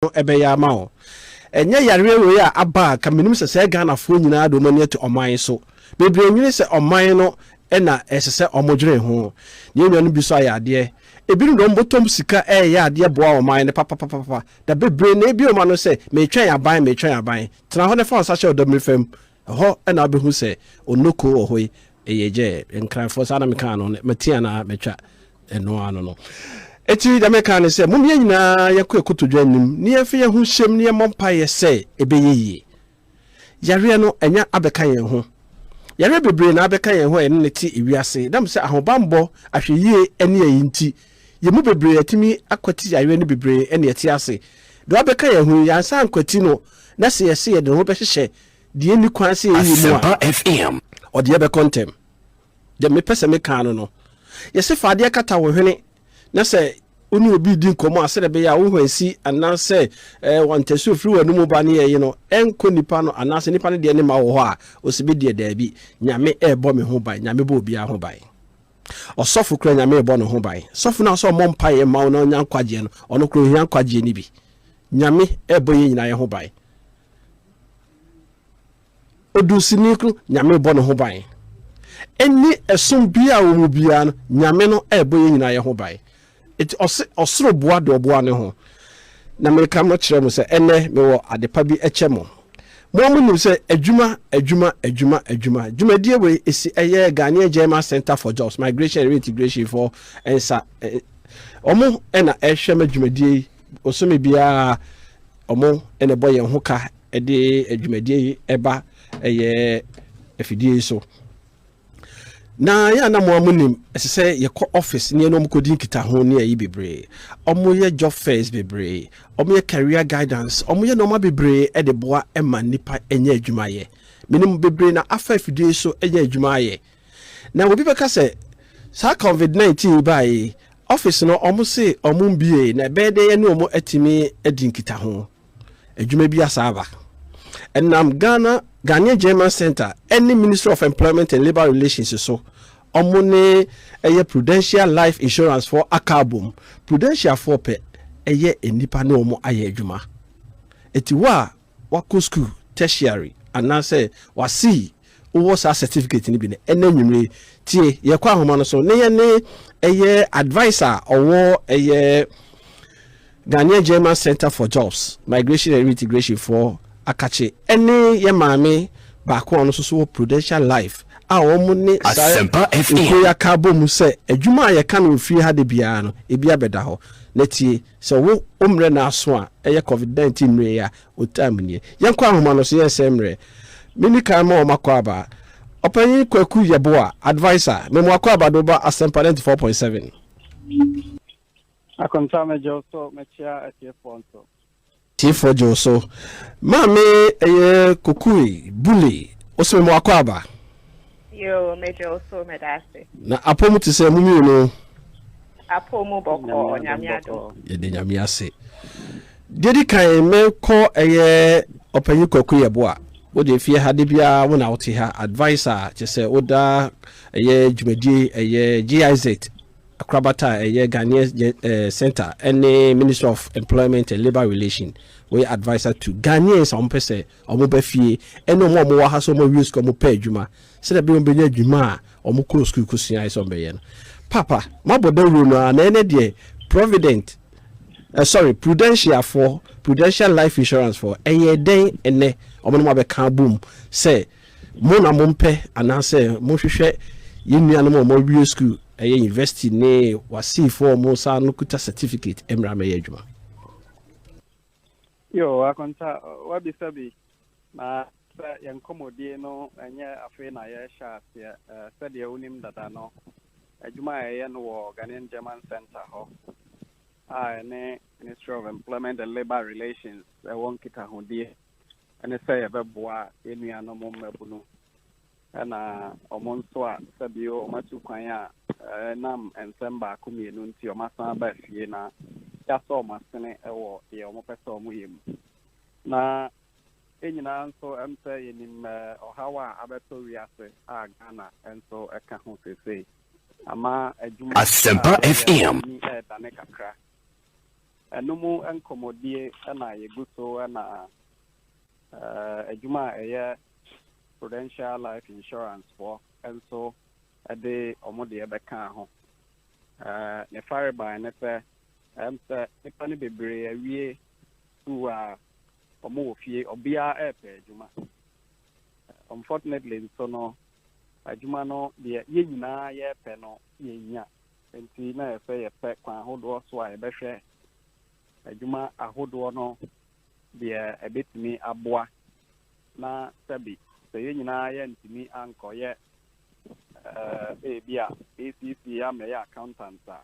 no ɛbɛyɛ ama wo. Ɛnyɛ yareɛ wei a aba a ka menim sɛ sɛɛ Ghanafoɔ nyinaa de wɔn ani ato ɔman so. Bebree nwene sɛ ɔman no na ɛsɛ sɛ wɔn dwene ho. Yɛn nuanom bi nso ayɛ adeɛ. Ebinom de wɔn bɔtɔm sika reyɛ adeɛ boa ɔman no papapapapa. Da bebree na ebi wɔn ano sɛ, meretwɛn aban, meretwɛn aban. Tena hɔ na fa wo nsa hyɛ ɔdɔ mmiri fam Ɛhɔ na wobɛhu sɛ onoko wɔ hɔ yi ɛyɛ gyɛɛ nkranfoɔ saa na mekaa no mati anaa matwa ɛno ano no ɛti deɛ meka ne sɛ mom yɛ nyinaa yɛkɔ ɛkotodwa anim ne yɛmfa yɛ ho hyɛm ne yɛmmɔ mpaeɛ sɛ ɛbɛyɛ yie yareɛ no ɛnya abɛka yɛn ho yareɛ bebree na abɛka yɛn ho a yɛne ne te ewiase nam sɛ ahobammɔ ahwɛyie ɛne ayi nti yɛn mu bebree atumi akwati yareɛ no bebree ɛne ɛte ase deɛ abɛka yɛn ho yi yɛansa ankwati no na sɛ yɛse yɛde ho bɛhyehyɛ deɛ nni kwan sɛ yɛyi mu a ɔdeɛ bɛkɔ ntɛm deɛ mepɛ sɛ mekaa no no yɛsɛ fa adeɛ kata wo hwene na sɛ wo ne obi di nkɔmmɔ a sɛdeɛ ɛbɛyɛ a wo hwan si anaasɛ eh, wɔntɛsi ofiri wɔn mu ba ne yɛyi no ɛnkɔ nipa no anaasɛ nipa no deɛ ne ma wɔ hɔ a ɔsi bi deɛ daabi nyame ɛrebɔ me ho ban nyame bɔ obiara ho ban ɔsɔfo kura nyame ɛbɔ ne ho ban sɔfo no a sɛ ɔmmɔ mpa yɛ ma wo na ɔnya nkwagyeɛ no ɔno kura ohia nkwagyeɛ no bi nyame ɛrebɔ yɛn nyinaa yɛ ho ban Odunsini no, Nyame rebɔ ne ho ban. Ɛnni ɛsom biara a wɔwɔ biara no, Nyame no rebɔ yɛn nyinaa yɛn ho ban. Eti ɔse ɔsoro boa deɛ ɔboa ne ho. Na meka mo kyerɛ mo sɛ, ɛnnɛ mewɔ adepa bi kyɛ mo. Mo a monim sɛ adwuma, adwuma, adwuma, adwuma, dwumadie wei esi ɛyɛ Ghanaian German Centre for Jobs, Migration and Reintegration foɔ nsa, wɔn na ɛrehwɛ ma dwumadie yi. Bosome biara ɔmo na ɛbɔ yɛn ho ka de adwumadie yi ɛba ɛyɛ afidie yi so na yɛ ana mo amo nim ɛsɛ sɛ yɛkɔ office ne ɛne ɔmo kɔdi nkitaho ne ayi bebree ɔmo yɛ job fairs bebree ɔmo yɛ career guidance ɔmo yɛ nneɛma bebree ɛde boa ɛma nipa ɛnyɛ adwuma yɛ menim bebree na afa afidie so ɛnyɛ adwuma yɛ Na obi bɛka sɛ saa covid 19 yi baeɛ yi office no ɔmo se ɔmo mbiee na ɛbɛyɛ dɛn yɛne ɔmo atumi adi nkitaho adwuma bi asa aba ɛnam Ghana Ghanaian German Center ɛne Ministry of Employment and Labour Relations so ɔmo ne ɛyɛ Prudential Life Insurance foɔ aka abom Prudential foɔ pɛ ɛyɛ nnipa ne ɔmo ayɛ adwuma ɛti hɔ a Wakɔ sukuu, tertiary, anaasɛ wasei, wowɔ saa certificate no bi no, ɛnnɛ anwummere yi, tie, yɛkɔ ahoma no so, ne yɛne ɛyɛ adviser a ɔwɔ ɛyɛ Ghanaian German Center for Jobs, Migration and Reintegration foɔ akakye, ɛne yɛ maame baako a ɔno nso so wɔ Prudential Life a wɔn ne saa Asempa FM. nkuroyɛ aka abɔ mu sɛ adwuma a yɛka no wɔ fie ha da biara no, ebi abɛda hɔ. Na tie. Sɛ wo wo mmerɛ na aso a, ɛyɛ covid 19 mmerɛ yi a o time nie. Yɛn kɔ ahoma no so yɛn sɛn mmerɛ. Me ni kan ma wɔn akwaaba. Ɔpanyin Kwaku Yeboah, Adviser, me mo akwaaba do ba Asempa 94.7. Akonta megyeo so mekyea atiefoɔ nso. Tiefo dwow so. Maame ɛyɛ Kokui, Buli, Osime mo akɔ aba. Yoo me dwow so meda ase. Na apɔ mu te sɛ mo mmienu. Apɔ mu bɔkɔɔ nyame adom. Yɛda nyame ase. Deɛ di kan me kɔ ɛyɛ ɔpanyin Kwaku yɛ boa. Wo deɛ fie ha da biara wo na wo te ha adviser kyɛ sɛ wo da ɛyɛ dwumadie ɛyɛ GIZ. Akorabata a ɛyɛ Ghanaian Centre ne Ministry of Employment and Labour Relation wɔyɛ adviser to Ghanaians a wɔpɛ sɛ wɔba fie ne wɔn a wɔwɔ ha sɛ wɔawie sukuu a wɔpɛ adwuma sɛdeɛ ɛbɛyɛ wɔbɛnya adwuma a wɔkɔɔ sukuu kɔsuaeɛ sɛ wɔbɛyɛ no. Papa, moabɔ dawuro no ara na ɛnɛ deɛ Provident, eh, sorry, Prudentia foɔ, Prudential Life Insurance foɔ, ɛyɛ dɛn ɛnɛ? Wɔn na moabɛka abom sɛ Mo na mompɛ anaasɛ mohwehwɛ yɛn nuanom a wɔawie sukuu, ɛyɛ university ne wasiifo a wɔn nsa ano kuta certificate mmra mmɛyɛ adwuma. Yoo, Akonta, woabisa bi, na sɛ yɛn nkɔmmɔdie no nyɛ afei na yɛrehyɛ aseɛ. Sɛdeɛ wonim dada no, adwuma a yɛyɛ no wɔ Ghanaian German Centre hɔ a ɛne Ministry of Employment and Labour Relations wɔ nkitahodie ne sɛ yɛbɛboa yɛn nuanom mmabunu na wɔn nso a sɛbi wɔatu kwan a ɛnam nsɛm baako mmienu nti wɔasan aba fie na yɛasɔ wɔn asene wɔ deɛ wɔpɛ sɛ wɔyɛ mu na yɛn nyinaa nso ɛm sɛ yɛnim ɔhaw a abɛtɔ wiase a Ghana nso ɛka ho seesei ama adwuma a yɛyɛ ɛdane kakra Ɛno mu nkɔmmɔdie na yɛgu so na adwuma a ɛyɛ Prudential Life Insurance foɔ nso de wɔn deɛ bɛkaa ho. Ne farebae ne sɛ, ɛm sɛ nnipa no bebree awie sukuu a wɔwɔ fie, obiara repɛ adwuma. Unfortunately nso no, adwuma no deɛ yɛn nyinaa yɛrepɛ no yɛnnya. Enti na ɛyɛ sɛ yɛpɛ kwan ahodoɔ so a yɛbɛhwɛ adwuma ahodoɔ no deɛ ɛbɛtumi aboa na sɛbi sɛ yɛn nyinaa yɛantumi ankɔyɛ eh, ebi a ACC amɛyɛ accountant a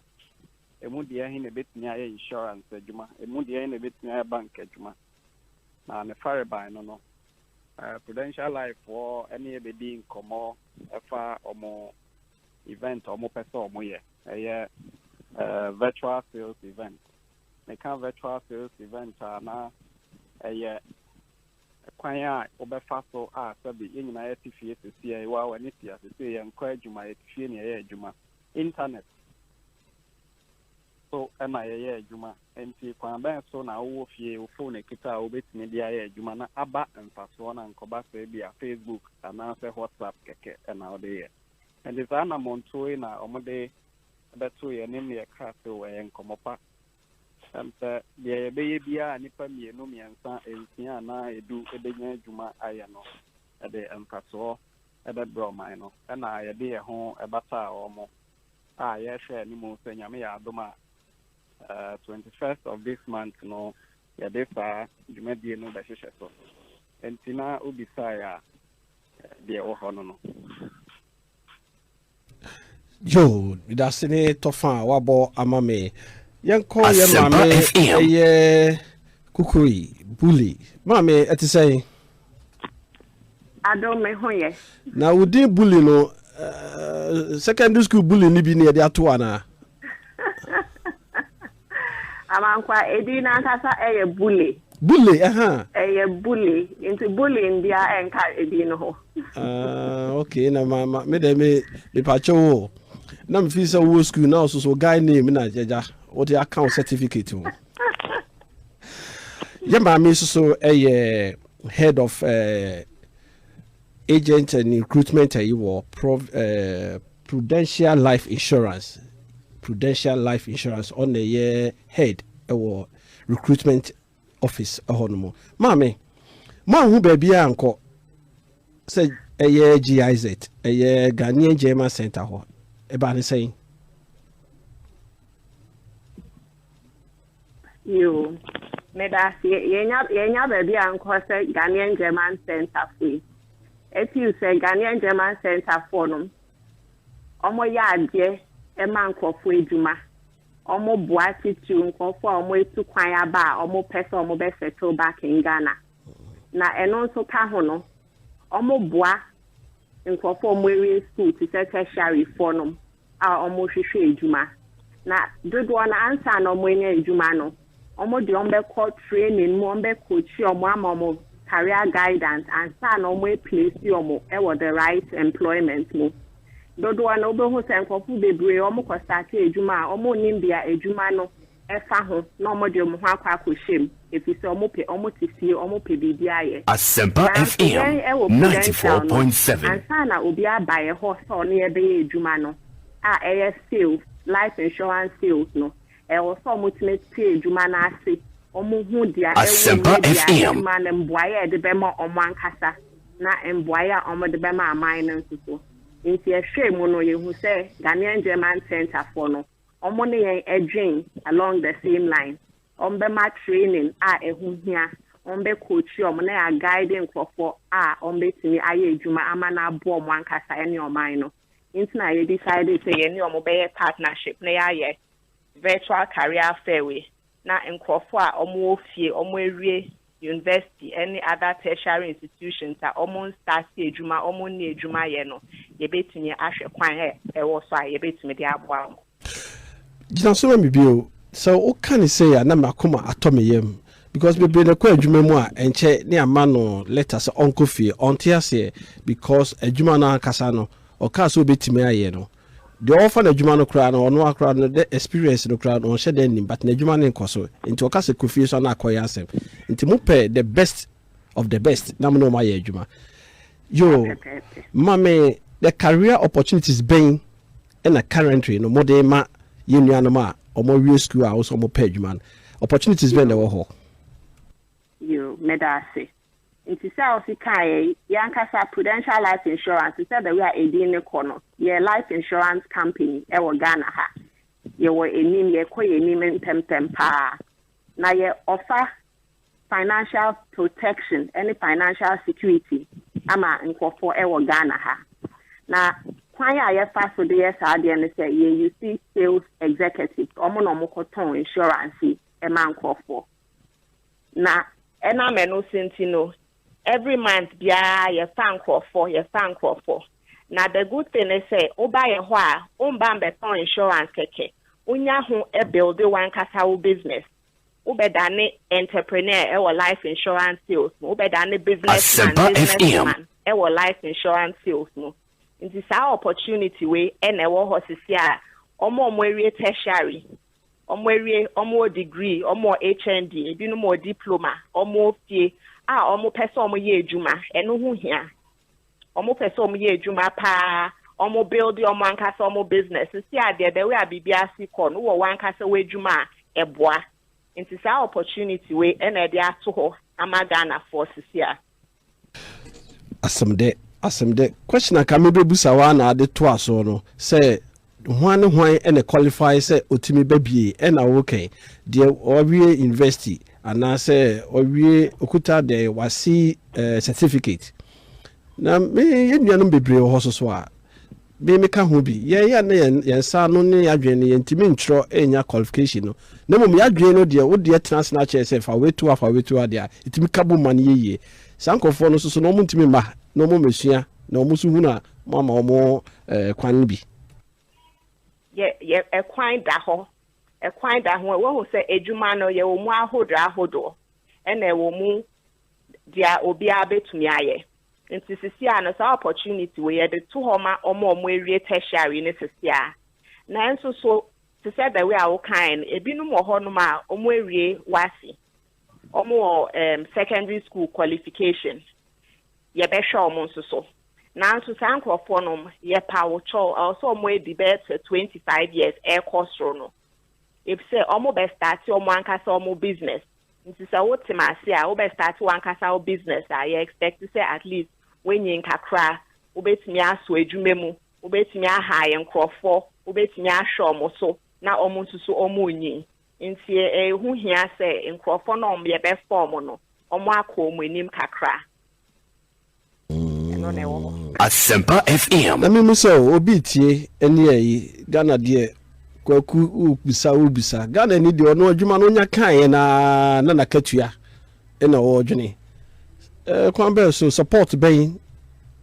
ɛmu deɛ he na ɛbɛtumi ayɛ insurance adwuma ɛmu deɛ he na ɛbɛtumi ayɛ bank adwuma na ne farebae no no eh, prudential life foɔ ɛne ɛbɛdi nkɔmmɔ ɛfa ɔmo event a wɔpɛ sɛ wɔyɛ. Ɛyɛ virtual sales event. Meka virtual sales event a na ɛyɛ kwan a wobɛfa so a sɛbi yɛn nyinaa yɛte fie sesie yi wa w'ani tia sesie yɛnkɔ adwuma yɛte fie na yɛyɛ adwuma internet so ɛna yɛyɛ adwuma nti kwan bɛn so na wowɔ fie wo phone ekita a wobɛtumi de ayɛ adwuma na aba mfasoɔ na nkɔba sɛ bi a facebook anaasɛ whatsapp kɛkɛ ɛna wode yɛ Ɛnde saa anammɔntuo yi na wɔde bɛto yɛn ne deɛ ɛka ase o, ɛyɛ nkɔmmɔ pa. Ɛm sɛ deɛ yɛbɛyɛ biara a nnipa mmienu, mmiɛnsa, nsia anaa edu bɛnya adwuma ayɛ no de mfasoɔ bɛbrɛ ɔman no na yɛde yɛn ho bata wɔn a yɛrehwɛ anim sɛ Nyame yɛ adom a, eh, 21st of this month no yɛde saa dwumadie no bɛhyehyɛ so. Enti na wobisaeɛ a, deɛ ɛwɔ hɔ no no. Joe, medase ne tɔfa a wabɔ ama me. Yɛnkɔ yɛ maame ɛyɛ kukuri bully. Maame ɛte sɛn? Ado me ho yɛ. Na wo din bully no uh, secondary school bully ni bi ne yɛde ato anaa? Amankwa, edin no ankasa yɛ Bule. Bule, aha. Ɛyɛ Bule, nti Bule ndea ɛnka edin no ho. Ah, okay, na ma, ma, me dɛ me, me pakyɛ wo. Na me fi sɛ wo school na so so guy name na jaja. What the account certificate wo. Yɛ maame so so ɛyɛ head of uh, Agent and Recruitment ayi wɔ Prov eh, Prudential Life Insurance, Prudential Life Insurance, ɔna ɛyɛ head ɛwɔ recruitment office ɛhɔ nom. Maame, moanhu baabi a nkɔ sɛ ɛyɛ GIZ, ɛyɛ Ghanaian German Center hɔ, ɛbaa ne sɛn? Yoo medase yɛnya yɛnya baabi a nkɔ sɛ Ghanaian German Centre fo yi ɛfeel sɛ Ghanaian German Centre foɔ nom ɔmo yɛ adeɛ ɛma nkorɔfoɔ adwuma ɔmo boa titiriw nkorɔfoɔ a ɔmo atu kwan aba a ɔmo pɛ sɛ ɔmo bɛ settle back in Ghana na ɛno nso ka ho no ɔmo boa nkorɔfoɔ a ɔmo awie school te sɛ tertiary foɔ nom a wɔhwehwɛ adwuma, na dodoɔ no ansa na wɔanya adwuma no, wɔde wɔn bɛkɔ training mu, wɔbɛ coachi wɔn ama wɔn career guidance ansa na wɔn aplesi wɔn wɔ the right employment mu. Dodoɔ no wobɛhu sɛ nkurɔfo bebree wɔkɔ starte adwuma a wɔnnim deɛ adwuma no ɛfa ho na wɔde wɔn ho akɔ akɔhyɛ mu efisɛ wɔpɛ, wɔte fie, wɔpɛ biribi ayɛ. Asempa Nanso FM yɛn wɔ ninety four Prudential no, point seven. ansa na obi aba yɛn hɔ sɛ ɔne yɛn bɛyɛ adwuma no a ɛyɛ sales, life insurance sales no, ɛwɔ sɛ wɔtumi te adwuma no ase, wɔhu deɛ ɛwɔ mu Asempa ne deɛ FM. ɛte ma no, mboaeɛ a yɛde bɛma wɔn ankasa na mboaeɛ a wɔde bɛma aman no nso so. Nti yɛhwɛɛ mu no, yɛhu sɛ Ghanaian German Centrefoɔ no, wɔn ne yɛn dwen along the same line, wɔn bɛ ma training a ɛho hia, wɔn bɛ coachi wɔn na yɛa guide nkorɔfoɔ a wɔn bɛ tumi ayɛ adwuma ama no aboa wɔn ankasa ɛne ɔman no, nti na yɛ decide sɛ yɛne wɔn bɛyɛ partnership na yɛayɛ virtual career fair wei. na nkorɔfoɔ a wɔn wɔ fie, wɔn awie university ne other tertiary institutions a wɔn nstarte adwuma, wɔn nni adwuma yɛ no, yɛbɛtumi ahwɛ kwan a ɛwɔ so a yɛbɛtumi de aboa wɔn. Gyina so ma me bio. Sɛ wo ka no sei a na me akoma atɔ me yam because bebree na ɛkɔ adwuma mu a ɛnkyɛ ne ama no letter sɛ ɔnkɔ fie. Ɔnte aseɛ because adwuma no ankasa no ɔkaa sɛ ɔbɛtumi ayɛ no Deɛ ɔfa no adwuma no koraa no ɔno ara koraa no dɛ experience no koraa no ɔnhyɛ da nnim but n'adwuma no nkɔ so nti ɔka sɛ kɔ fie nso a na akɔyɛ asɛm nti mo pɛ the best of the best na mo ne wɔn ayɛ adwuma yoo Pɛpɛɛpɛ. ma me the career opportunities bɛn na currently no mo de ma yɛn nuanom a wɔn awie sukuu a wɔn nso wɔn pɛ adwuma no opportunities bɛn na Yoo, ɛwɔ hɔ. yoo, meda ase. Ntsi sɛ ɔse kae yi, yankasa Prudential Life Insurance, sɛ the way a edin no kɔ no, yɛ life insurance company wɔ Ghana ha. Yɛwɔ enim, yɛkɔ yɛnim mpɛmpɛm paa. Na yɛ offer financial protection ne financial security ama nkorɔfoɔ wɔ Ghana ha. Na kwan a yɛfa so de yɛ saa adeɛ no sɛ yɛ use sales executives, ɔmo na ɔmo kɔ tɔn insurance yi ma nkorɔfoɔ. Na ɛnam ɛno so nti no, every month biara yɛfa nkorɔfoɔ, yɛfa nkorɔfoɔ. Na the good thing ne sɛ, woba yɛn hɔ a, womba mbɛtɔn insurance kɛkɛ. Wonya ho builde w'ankasa wo business. Wobɛdane entrepreneur wɔ life insurance sales mu. Wobɛdane business man, business woman wɔ life insurance sales mu. Nti saa opportunity wei na ɛwɔ hɔ sese a wɔn a wɔawie tertiary Wɔawie, wɔwɔ degree, wɔwɔ HND, ebinom wɔ diploma, wɔwɔ fie a wɔpɛ sɛ wɔyɛ adwuma, ɛno ho hia. Wɔpɛ sɛ wɔyɛ adwuma paa, wɔbuilde wɔn ankasa wɔn business. Sisi a deɛ the way a biribi asi kɔ no, wowɔ w'ankasa w'adwuma a, ɛboa. Nti saa opportunity wei na ɛde ato hɔ ama Ghanafoɔ sisi a. Asɛm dɛ asɛm dɛ question a nka mebɛbusa wo ara na ade toa so no sɛ hwan ne hwan na qualify sɛ ɔtumi ba bie ɛna wo kɛn deɛ wawie university anaa sɛ ɔwie ɔkuta dɛ wase certificate na me yɛ nuanom bebree wɔ hɔ soso a Me meka ho bi. Yɛn a na yɛn yɛn nsa ano ne yɛn adwene no yɛntumi ntwerɛ nnya qualification no na mmom yɛn adwene no deɛ wo deɛ tena ase na akyerɛ sɛ fa wei to ha fa wei to ha deɛ a ɛtumi ka bom ma no yɛ yie. Saa nkurɔfoɔ no nso so na wɔn ntumi mma ha na wɔn mmɛsua na wɔn nso hunu a moama wɔn eh, kwan no bi. yɛ yɛ ɛkwan da hɔ ɛkwan da ho wɔhu sɛ adwuma no yɛwɔ mu ahodoɔ ahodoɔ ɛna ɛwɔ mu deɛ obiara bɛtumi ayɛ Nti sisiaa no saa opportunity wei yɛde to hɔ ma wɔn a wɔn awie tertiary no sisiaa. Nanso so te sɛ the way a wo kaeɛ no ebinom wɔ hɔ nom a wɔn awie WASSCE, wɔn wɔ um, secondary school qualification, yɛbɛhwɛ wɔn nso so. Nanso saa nkurɔfoɔ nom yɛ pawo kyɛw ɛwɔ sɛ wɔn adi bɛyɛ sɛ 25 years ɛrekɔ soro no. Ebi sɛ wɔn bɛ start wɔn ankasa wɔn business. Nti sɛ wo tem ase a wo bɛ start wankasa wo business a yɛ expect sɛ at least wo nyin kakra, wo bɛ tumi aso adwuma mu, wo bɛ tumi a hire nkorɔfɔ, wo bɛ tumi ahwɛ ɔmo so na ɔmo nso so ɔmo nyin. Nti ɛho hia sɛ nkorɔfɔ na ɔmo yɛ bɛ fa ɔmo no ɔmo akɔ ɔmo anim kakra. ɛno na ɛwɔ hɔ. Asempa FM. Na me misa o obi retie ɛne ɛyi Ghana deɛ kwaku wo bisa wo bisa Ghana ni deɛ ɔno adwuma no ɔnya kaeɛ no ara na nakatua ɛna ɔredwene ɛɛ kwan bɛn so support bɛn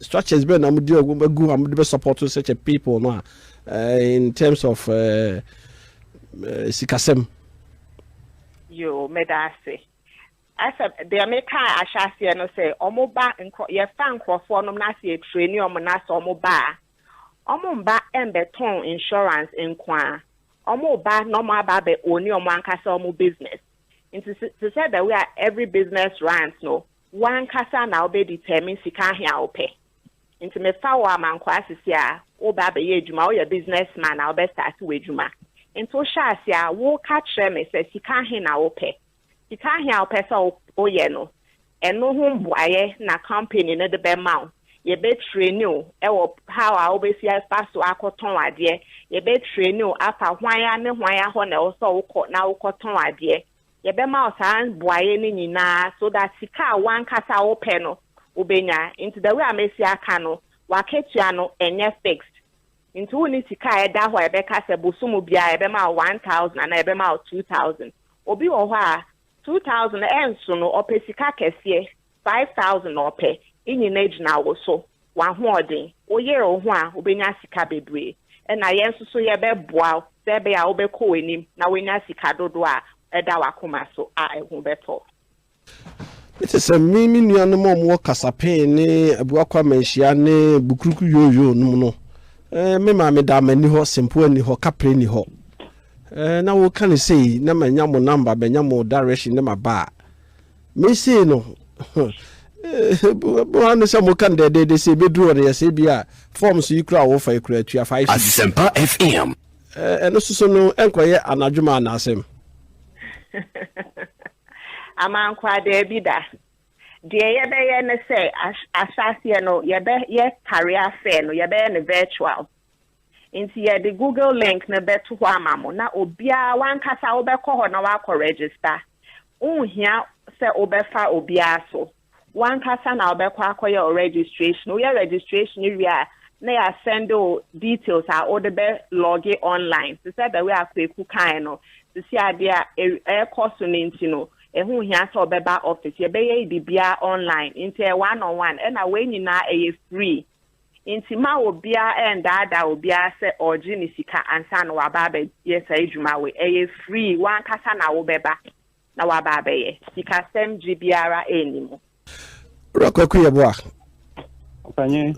structures bɛn na mo de agu a mo de bɛ support such a people no a ɛɛ in terms of ɛɛ eh, eh, sikasɛm. Yo, meda ase. Ɛsɛ deɛ me kaa ahyɛ aseɛ no sɛ ɔmo ba nkorɔ yɛ fa nkorɔfoɔ nom na sɛ yɛ treni ɔmo na sɛ ɔmo ba a ɔmo mba ɛmbɛ tɔn insurance nkoaa ɔmo ba na ɔmo aba abɛ owni ɔmo ankasa ɔmo business nti sɛ te sɛ the way a every business runs no wo ankasa na wo bɛ determine sika ahe a wo pɛ nti me fa wo amankwaa sisi a wo bɛ abɛ yɛ adwuma wo yɛ business man a wo bɛ start wo adwuma nti wo hyɛ aseɛ a wo ka kyerɛ me sɛ sika ahe na wo pɛ. Sika ahe a wopɛ sɛ woyɛ no, ɛno ho mbuaeɛ na company no de bɛma wo. Yɛbɛ traini wo wɔ how a wobɛsi afa so akɔtɔn adeɛ. Yɛbɛ traini wo afa hwan a ne hwan a hɔ na ɛwɔ sɛ wokɔ na wokɔtɔn adeɛ. Yɛbɛma wo saa buaeɛ no nyinaa so that sika a w'ankasa wopɛ no wobɛnya. Nti the way a mɛsi aka no, w'akatua no ɛnyɛ fixed. Nti wonni sika a ɛda hɔ a yɛbɛka sɛ bosomu biara yɛbɛma wo one thousand anaa yɛbɛma wo two thousand. Obi wɔ hɔ a two thousand no ɛnso no, ɔpɛ sika kɛseɛ, five thousand na ɔpɛ. Nnyina gyina wo so, w'ahoɔden. Wo yere wo ho a, wobɛnya sika bebree. Ɛna yɛn nso so yɛbɛboa wo sɛ ɛbɛyɛ a wobɛkɔ w'anim na woanya sika dodoɔ a ɛda w'akoma so a ɛho bɛtɔ. Mete sɛ me me nuanom a wɔwɔ Kasapen ne Abuakwa Manhyia ne Bukuruku Yooyoo nom no. Eh, me maame da m'ani hɔ, Sempoa ni hɔ, Kapre ni hɔ. Eh, na woka no sei, na manya mo namba, manya mo direction ne maba a. Me sei no, mo ano sɛ moka no dɛdɛɛdɛ sɛ ɛbɛduru hɔ no yɛ sɛ bi a forms yi kura a wofa yi kura atua 5 cities. Asempa FM. Eh, ɛno soso no ɛnkɔyɛ anadwo ma anaasɛm. Amankwa, Daabi da. Deɛ yɛbɛyɛ ne sɛ, ahyɛ aseɛ no, yɛbɛyɛ Tare Affair no, yɛbɛyɛ no virtual. Nti yɛde Google link no bɛto hɔ ama mo, na obiara, w'ankasa wobɛkɔ hɔ na woakɔ register. Wonhia sɛ wobɛfa obiara so. Wankasa na wobɛkɔ akɔyɛ wo registration. Woyɛ registration wie a na yɛasɛnde wo details a wode bɛ lɔge online. Te sɛ the way a Kweku kae no, sisi adeɛ a ɛrekɔ so no nti no, ɛho nhia sɛ wobɛba office. Yɛbɛyɛ biribiara online nti ɛyɛ one on one ɛna wei nyinaa ɛyɛ free. Nti ma obiara ɛndaadaa obiara sɛ ɔregye ne sika ansa na waba abɛyɛ saa adwuma wei. Ɛyɛ free, wankasa na wobɛba. na waba abɛyɛ. Sikasɛm gyiri biara nni mu. Owura Kwaku Yeboah,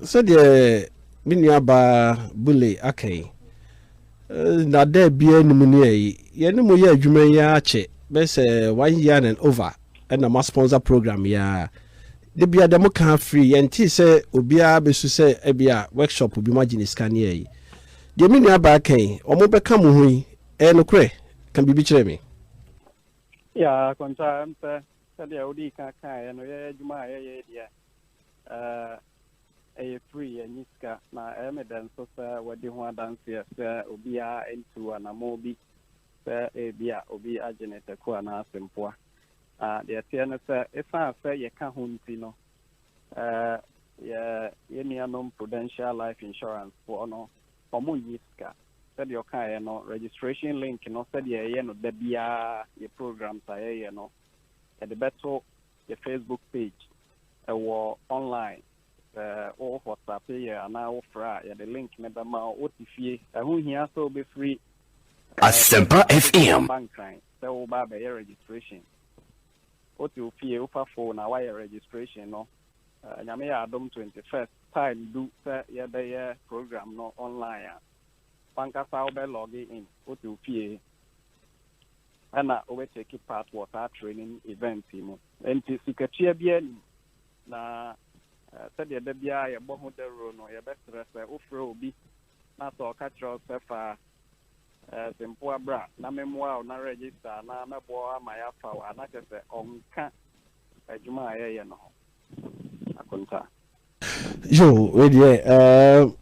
sɛdeɛ me nua baa Bule aka yi, nnaadaa biara nni mu ne ayi. Yɛne mo yɛ adwuma yi ara kyɛ bɛyɛ sɛ one year and over ɛna ma sponsor program yi ara. Da biara deɛ mo ka afiri yɛntee sɛ obiara bɛsu sɛ ɛbi a workshop bi mo agye ne sika ne ayi. Deɛ me nua baa ka yi, wɔn bɛka mo ho yi, Ɛyɛ nokorɛ? Ka biribi kyerɛ me. Yeah, Kontaa, ɛm sɛ sɛdeɛ wodii ka kaeɛ no, yɛyɛ adwuma a yɛyɛ yi deɛ, eh, ɛyɛ free, yɛnyi sika, na ɛyɛ me dɛ nso sɛ wadi ho adanseɛ sɛ obiara ntu anammɔn bi sɛ ebi a obi agye ne tako anaa sempoa. Na deɛ ɛteɛ ne sɛ, ɛsiane sɛ yɛka ho nti no, eh, yɛ, yɛn nuanom Prudential Life Insurance foɔ no Wɔnnyɛ sika. Sɛdeɛ ɔkaeɛ no, registration link no sɛdeɛ yɛyɛ no da biara yɛ programs a yɛyɛ no, yɛde bɛto yɛ Facebook page wɔ online. Sɛ wo whatsappi yɛ anaa wo frɛ a, yɛde link no bɛma wo. Wote fie, ɛho nhia sɛ wobɛfiri Asempa FM. aba Nkran sɛ woreba abɛyɛ registration. Wote wo fie, wofa phone a woayɛ registration no. Nyame yɛ adom twenty first time du sɛ yɛbɛyɛ program no online a, wankasa wobɛ log in wote wo fie ɛna wobɛ take part wɔ saa training event yi mu. Nti sikatua biara nim na sɛdeɛ da biara yɛbɔ ho dawuro no yɛbɛsrɛ sɛ wofrɛ obi na sɛ ɔka kyerɛ wo sɛ fa sempoa bra na memmoa wo na register na mɛboa wo ama yɛafa wo a na kyɛ sɛ ɔnka adwuma a yɛyɛ no ho akonta. Yo, wei deɛ ɛɛm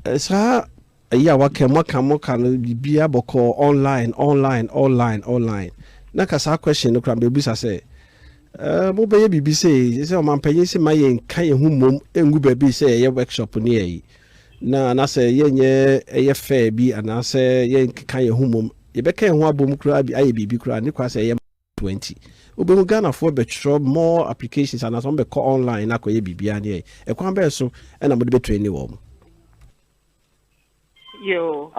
eh, saa ɛyi a waka mu aka mo ka no biribiara bɔkɔɔ online online online online na ka saa question no koraa mbɛbisa sɛ ɛɛ mobɛyɛ biribi sei sɛ ɔmampanyin se ma yɛnka yɛn ho mmom ngu baabi sɛ yɛyɛ workshop ne yɛyi na anasɛ yɛnyɛ ɛyɛ fair bi anaasɛ yɛnkeka yɛn ho mmom yɛbɛka yɛn ho abom koraa bi ayɛ biribi koraa ne koraa sɛ ɛyɛ twenty wobɛhu Ghanafoɔ bɛtwerɛ more applications anaasɛ wɔn bɛkɔ online na akɔyɛ biribiara ne ɛyi ɛkwan bɛyɛ so ɛna mode bɛtwerɛ ne wɔn. Yoo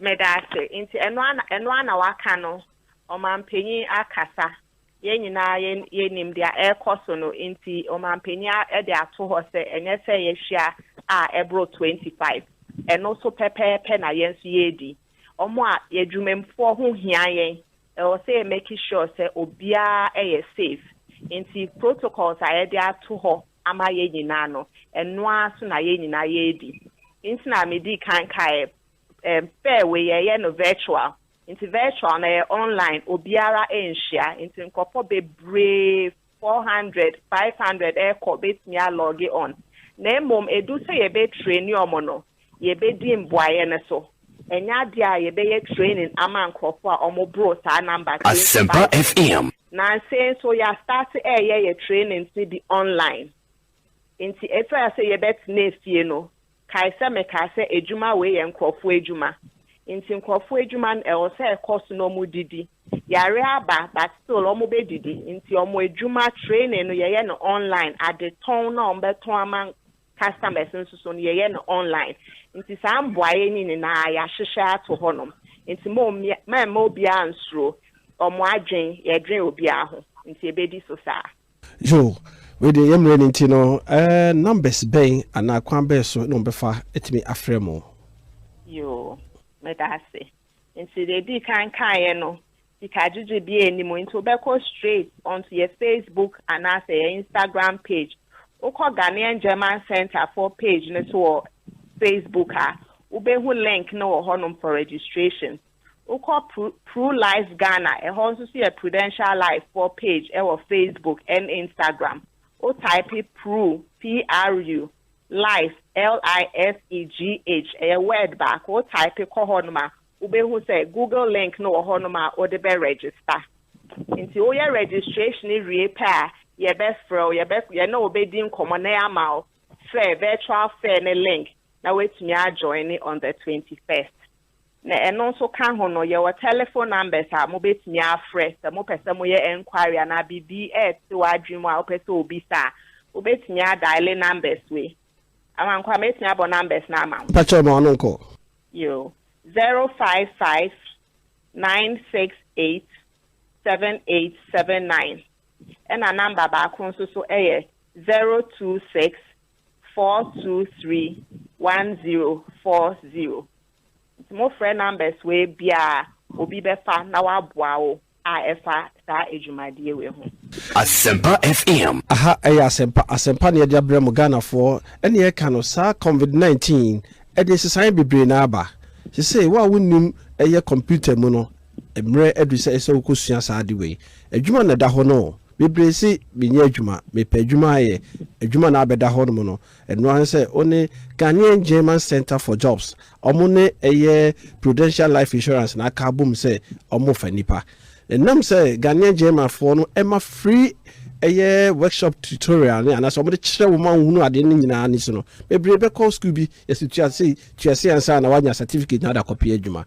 meda ase nti ɛno ana ɛno ana waka no ɔmanpanyin akasa yɛn nyinaa yɛn yɛnim deɛ ɛrekɔ so no nti ɔmanpanyin ɛde ato hɔ sɛ ɛnyɛ sɛ yɛhyia a ɛboro twenty five ɛno so pɛpɛɛpɛ na yɛn nso yɛredi wɔn a yɛdwumamfoɔ ho hia yɛn. Ɛwɔ sɛ yɛ make sure sɛ obiara yɛ safe nti protocols a yɛde ato hɔ ama yɛn nyinaa no ɛno ara so na yɛn nyinaa yɛredi. Nti na me dii kan kaeɛ ɛm pɛ wei yɛyɛ no virtual nti virtual no ɛyɛ online obiara nhyia nti nkorɔfoɔ bebree four hundred, five hundred rekɔ betumi a lɔge ɔn na mmom edu sɛ yɛbɛ treni ɔmo no yɛbɛ di mboayɛ no so ɛnyɛ adeɛ a yɛbɛ yɛ training ama nkorɔfo a ɔmo boro saa number twenty five no nansei nso yɛ astarte ɛɛyɛ yɛ trainings no bi online nti ɛfira sɛ yɛbɛ tena efie no Kae sɛ mekaa sɛ adwuma wei yɛ nkurɔfoɔ adwuma, nti nkurɔfoɔ adwuma no ɛwɔ sɛ ɛkɔ so na wɔdidi. Yareɛ aba but still wɔbɛdidi, nti wɔn adwuma training no yɛyɛ no online, adetɔn no a wɔbɛtɔn ama customers no nso so no yɛyɛ no online. Nti saa mboaeɛ no nyinaa yɛahyehyɛ ato hɔnom, nti mommia, mɛmma obiara nsuro, wɔn adwene, yɛdwene obiara ho, nti ɛbɛdi so saa. Yoo, wei deɛ yɛn mmerɛ no nti no, eh, numbers bɛn anaa kwan bɛn so na wɔbɛfa atumi afrɛ mo? Yoo, meda ase. Nti deɛ ɛdii kan kaeɛ no, sika gyegye biara nni mu, nti wobɛkɔ straight onto yɛn Facebook anaasɛ yɛn Instagram page. Wokɔ Ghanaian German Centre foɔ page no so wɔ Facebook a, wobɛhu link no wɔ hɔnom for registration. Wokɔ Pru Life Ghana, ɛhɔ nso so yɛ Prudential Life foɔ page ɛwɔ Facebook ɛne Instagram. Wo type Pru, P-R-U, Life, L-I-F-E-G-H, ɛyɛ word baako, wo type kɔ hɔ nom a, wobɛhu sɛ Google link no wɔ hɔ nom a wode bɛ register. Nti woyɛ registration wie pɛ a, yɛbɛfrɛ wo, yɛbɛ, yɛne wo bɛdi nkɔmmɔ na yɛama wo fair, virtual fair no link na woatumi a join on the 21st. Na ɛno nso ka ho no, yɛwɔ telephone numbers a mobɛtumi afrɛ sɛ mopɛ sɛ moyɛ enquiry anaa biribi rete w'adwene mu a wopɛ sɛ obisa a, wobɛtumi a diale numbers wei. Amankwaa, mɛtumi abɔ numbers no ama wo? Mpa kyɛw ma wɔn nkɔ. Yoo, zero five five nine six eight seven eight seven nine ɛna number baako nso so yɛ zero two six four two three one zero four zero nti mo frɛ numbers wei biaa obi bɛfa na waboa wo a ɛfa saa adwumadeɛ wei ho. Asempa FM. Aha ɛyɛ asɛmpa asɛmpa na yɛde abrɛ mo Ghanafoɔ ɛne yɛka no saa covid 19 ɛde nsesaeɛ bebree na aba sesei wo a wonnim ɛyɛ computer mu no Mmerɛ adu sɛ sɛ wo kɔ sua saa ade wei. Adwuma na ɛda hɔ no o. Bebree se me nyɛ adwuma, me pɛ adwuma ayɛ. Adwuma na abɛda hɔ nom no. Ɛno ara ne sɛ wo ne Ghanaian German Centre for Jobs, wɔn ne ɛyɛ Prudential Life Insurance na aka abom sɛ wɔn fa nnipa. Ɛnam sɛ Ghanaian German foɔ no ɛma free ɛyɛ workshop tutorial ne anaasɛ wɔn de kyerɛ wo ma wo hunu adeɛ no nyinaa ne so no, bebree bɛkɔ school bi, yɛse tua sei, tua sei ansa na woanya certificate na wode akɔ pɛ adwuma.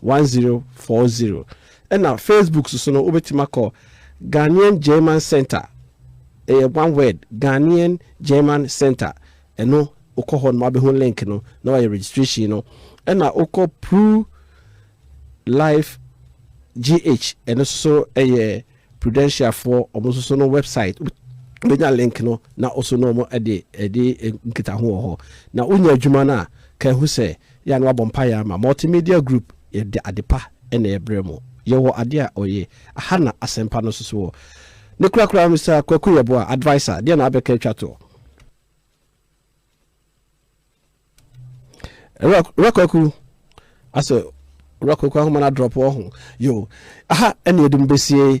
One zero four zero Ɛna Facebook soso no wobɛtumi akɔ Ghanaian German Centre ɛyɛ one word Ghanaian German Centre ɛno wokɔ hɔ nom wabɛhu link no na wayɛ registration no ɛna wokɔ Pru Life GH ɛno soso ɛyɛ Prudential foɔ wɔn nso so no website wobɛnya link no na ɔso no wɔn ɛde ɛde nkita ho wɔ hɔ na wonya adwuma no a ka ɛho sɛ yɛ a na wabɔ mpaeɛ ama multimedia group yɛde adepa ɛna ɛbrɛ mo yɛwɔ adeɛ a ɔyɛ aha na asɛmpa no nso so wɔ ne kora kora Mister Kwaku Yɛboa adviser deɛ na abɛka atwa toɔ Ewura Kwaku asɛ Ewura Kwaku ahoma no adrɔpo ɔho yo aha ɛna yɛde mo bɛsie